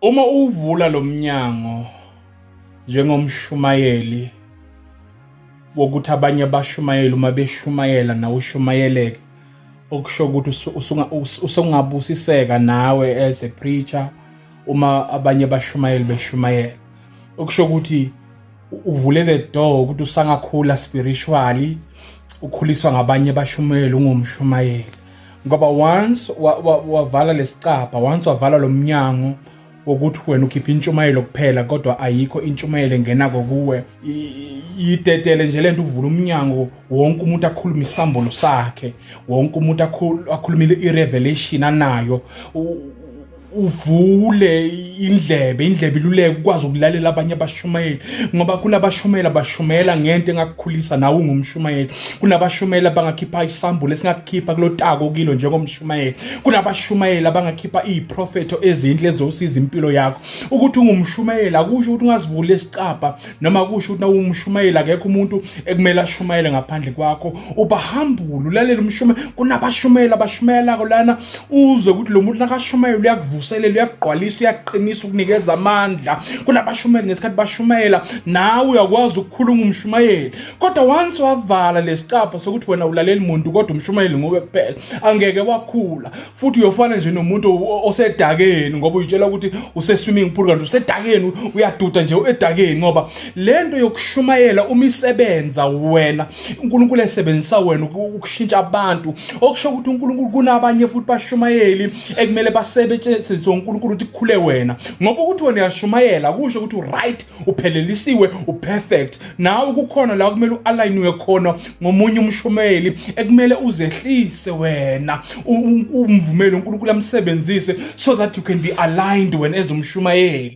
Uma uvula lo mnyango njengomshumayeli wokuthi abanye abashumayeli uma beshumayela nawe ushumayeleke okusho ukuthi usungabusiseka nawe as a preacher uma abanye abashumayeli beshumayela okusho ukuthi uvule le door ukuthi usangakhula spiritually ukhuliswa ngabanye abashumayeli ungumshumayeli ngoba once wavala lesicabha once wavala lomnyango wokuthi wena ukhipha intshumayelo kuphela kodwa ayikho intshumayelo engena kokuwe yitetele nje lento ukuvula umnyango wonke umuntu akhulume isambolo sakhe wonke umuntu akhulumile irevelation anayo uvule indlebe indlebe iluleke ukwazi ukulalela abanye abashumayeli ngoba kunabashumayeli abashumela ngento engakukhulisa nawe ungumshumayeli kunabashumayeli abangakhipha isambulo esingakukhipha kulotako kilo njengomshumayeli kunabashumayeli abangakhipha iziprofetho ezinhle ezosiza impilo yakho ukuthi ungumshumayeli akusho ukuthi ungazivula isicabha noma kusho ukuthi nawumshumayeli akekho umuntu ekumele ashumayele ngaphandle kwakho ubahambule ulalela umshume kunabashumayeli abashumayelako lana uzwe ukuthi lo muntu nakashumayela uyakuvuselela uyakugqwalisa uyaqinisa ukunikeza amandla kunabashumayeli ngesikhathi bashumayela nawe uyakwazi ukukhuluma umshumayeli kodwa once wavala lesicapha sokuthi wena ulaleli muntu kodwa umshumayeli nguwe kuphela angeke wakhula futhi uyofana nje nomuntu o- osedakeni ngoba uyitshela ukuthi use-swimming pool kanti usedakeni uyaduda nje edakeni ngoba le nto yokushumayela uma isebenza wena unkulunkulu esebenzisa wena uku- ukushintsha abantu okusho ukuthi unkulunkulu kunabanye futhi bashumayeli ekumele basebenzise unkulunkulu ukuthi kukhule wena ngoba ukuthi wena uyashumayela kusho ukuthi u-right uphelelisiwe u-perfect nawe kukhona la kumele u-alayiniwe khona ngomunye umshumeli ekumele uzehlise wena umvumele uNkulunkulu amsebenzise so that you can be aligned wena ezumshumayeli